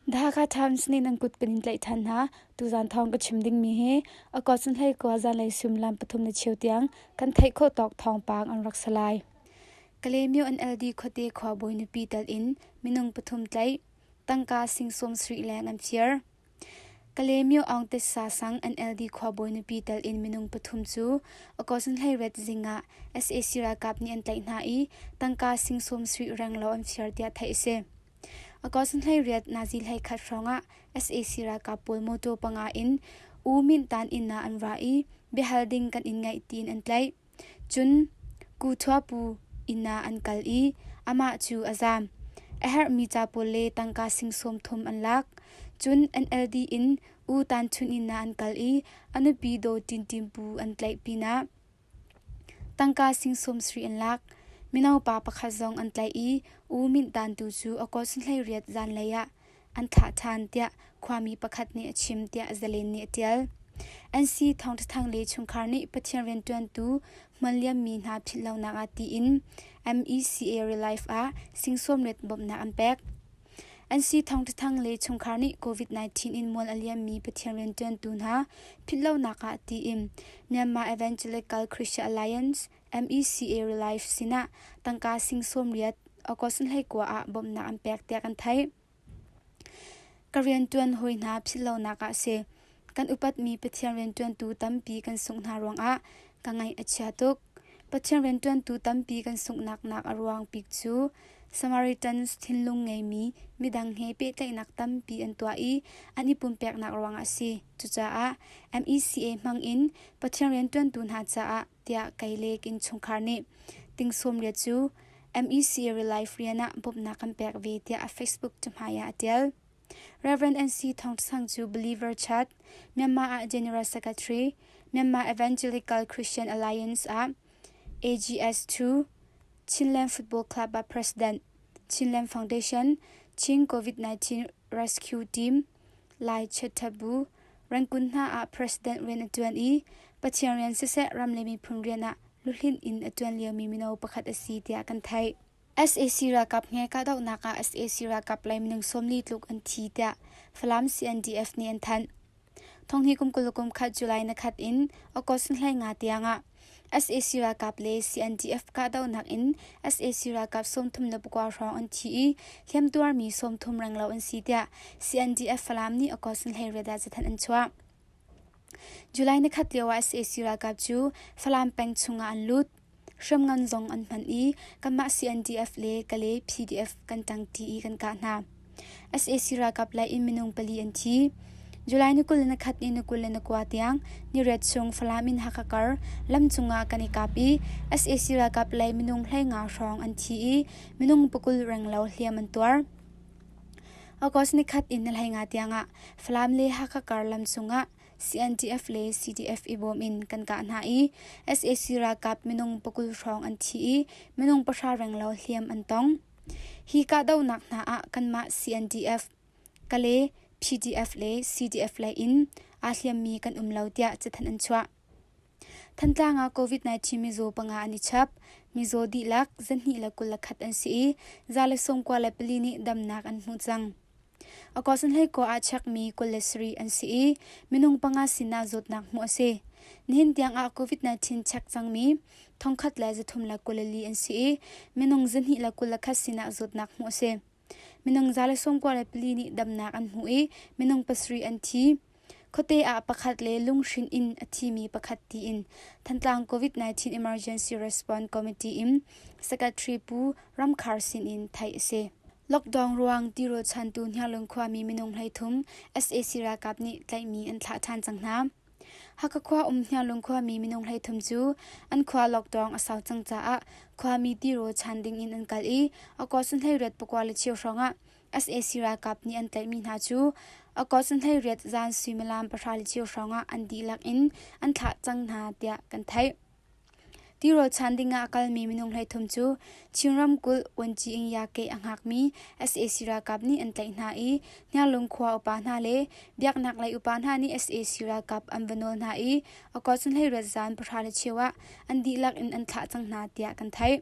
Dhaka Times nih nan kut kan in tlaih ṭhan hna. Tuzaan thawng ka chim dingmi hi a kawsan hlei kua zanlei suimlam pathum na cheu tiang kan theih khawh tawk thawngpang an rak sa lai. Kalemyo NLD khuate khuabawi nupi tal in minung pathum tlaih, tangka sing sawm sarih leng an fir. Kalemyo Aung Tesa sang an LD khuabawi nupi tel in minung pathum cu Akosn hleihret zing ah sac ralkap nih an tlaih hna i tangka sing sawm suih renglaw an fir tiah theih a si. Akosn hleihriat Nazi hleikhat hrawngah sac ralkap pawl mawtaw panga in U Myint Tan inn ah an ra i biahal ding kan in ngeih tiin an tlaih. Cun Kuthua-pu inn ah an kal i amah cu a zaam. A herhmi ca pawl le tangka singsawm thum an lak. Cun NLD in U Tan Htun inn ah an kal i a nupi Daw Tin Tin pu an tlaih pinah tangka singsawm sri an lak. Mino pa pakhat zong an tlaih i U Minh Tan tu cu a kaw sunhleiriat zanlei ah an thlah ṭhan tiah khuami pakhat nih a chim tiah zalen nih a ṭial. An si thawngṭhathang le chungkhar nih Pathian rianṭuantu hman liammi hna philhlonak ah tiin MECA Relief ah singsawmlet bawmhnak an pek. An si thawngṭhathang le chungkhar nih COVID-19 in mual a liammi Pathian rianṭuantu hna philhlonak ah tiin Myanmar Evangelical Christian Alliance MECA Relief sinah tangka sing sawmriat August hleikua ah bawmhnak an pek tiah kan theih. Ka riantuan hawi hna philhlonak ah si kan upatmi Pathian riantuantu tampi kan sungh hna ruangah ka ngaih a chia tuk. Pathian riantuantu tampi kan sunghnak nak a ruang bik cu Samaritans thinlung ngeimi midang he pehtlaihnak tampi an tuah i an i pumpeknak ruangah a si. Cucaah MECA hmangin Pathian riantuantu hna caah tiah Kailek innchungkhar nih tingsawmria cu MEC Relief rian ah bawmhnak kan pek ve tiah a Facebook cahmai ah a tial. Reverend NC Thong Sang cu Believer Church, Myanmar ah General Secretary, Myanmar Evangelical Christian Alliance ah AGS2, Chinland Football Club ah President, Chinland Foundation, Chin COVID-19 Rescue Team, Lai chiaṭhabu Rangoon hna ah president rian a ṭuan i Pathian rian siseh ram le miphun rian ah luhlinh in a ṭuan liomi mino pakhat a si tiah kan theih. sac ralkap he kahdohnak ah sac ralkap lei minung sawmli tluk an thi tiah Falam CNDF nih an thanh. Thong hi kum kul le kum khat July nakhat in August hlei nga tiangah sac ralkap le cndf kahdohnak in sac ralkap sawmthum le pakua hrawng an thi i hliamtuarmi sawmthum renglo an si tiah cndf falam nih august hleireda cathanh an chuah july nikhat lio ah sac ralkap cu falam peng chungah an lut hriamngan zong an hman i kanmah cndf le kale pdf kan ṭangṭi i kan kah hna sac ralkap lei in minung pali an thi july ni kul le nakhat ni ni kul le nakua tiang niret chung falam in hakha kar lam cungah kan i kap i sac ralkap lei minung hleinga hrawng an thi i minung pakul renglo hliam an tuar august nikhat in nalhainga tiangah falam le hakha kar lam cungah CNDF le CDF i bawm in kan kah hna i sac ralkap minung pakul hrawng an thi i minung pahra renglo hliam an tong Hi kahdohnak hna ah kanmah CNDF, Kale, PDF le CDF lei in aa hliammi kan um lo tiah cathanh an chuah. Thantlang ah COVID-19 mizaw panga an i chap. Mizaw dihlak, zahnih le kul le khat an si i, za le sawmkua le pali nih damnak an hmu cang. August Hleiko ah chekmi kul le sarih an si i minung panga sinah zawtnak hmuh a si. Nihin tiangah COVID-19 chek cangmi thongkhat le zathum le kul le li an si i minung zahnih le kul le khat sinah zawtnak hmuh a si. Minung za le sawmkua le pali nih damnak an hmu i minung pasarih an thi. Khuate ah pakhat le lunghrinh in a thimi pakhat tiin Thantlang COVID-19 Emergency Response Committee in Secretary Pu Ramkhar sin in theih a si. Lockdown ruang tirochantu Hniarlung khuami minung hleithum sac ralkap nih tlaihmi an thlah ṭhan cang hna. Hakha khua um Hniarlung khuami minung hleithum cu an khua lockdown a sau cang caah khuami tiro chan ding in an kal i Akaw Sunhlei Ret pakua le chiu hrawng ah sac ralkap nih an tlaihmi hna cu a kawlsanhleiriat zan suimilam pahra le cheu hrawngah an dihlak in an thlah cang hna tiah kan theih. Tirolchan dingah a kalmi minung hleithum cu Chin ramkulh Wenci-Ingya-ke a hngakmi sac ralkap nih an tlaih hna i Hniarlung khua upa hna le biaknaklei upa hna nih sac ralkap an va nawl hna i a kawlsanhleiriat zan pahra le cheu ah an dihlak in an thlah cang hna tiah kan theih.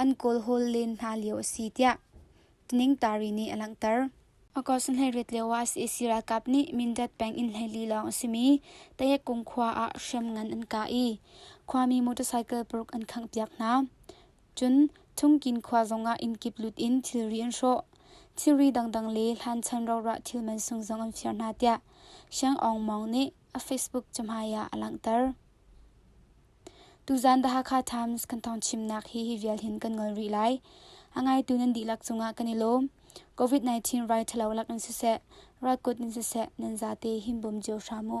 an kawlhawl len hna lio a si tiah Ningtari nih a langhter. August hleiriat lio ah sac ralkap nih Mindat peng in hleili lawng a simi Tayekkung khua ah hriam ngan an kah i khuami motorcycle paruk an khanghpiak hna. Cun Thungkin khua zong ah innkip lut in thilri an hrawh. Thilri dangdang le hlanchhan rorah thil mansung zong an fir hna tiah Siang Aung Mong nih a Facebook cahmai ah a langhter. Tuzaan The Hakha Times kan thawngchimnak hi hi vial hin kan ngol rih lai. A ngaitu nan dihlak cungah kan i lawm. COVID-19 rai ṭhalo lak in siseh, rat kut in siseh, nan zate himbawm cio hram u.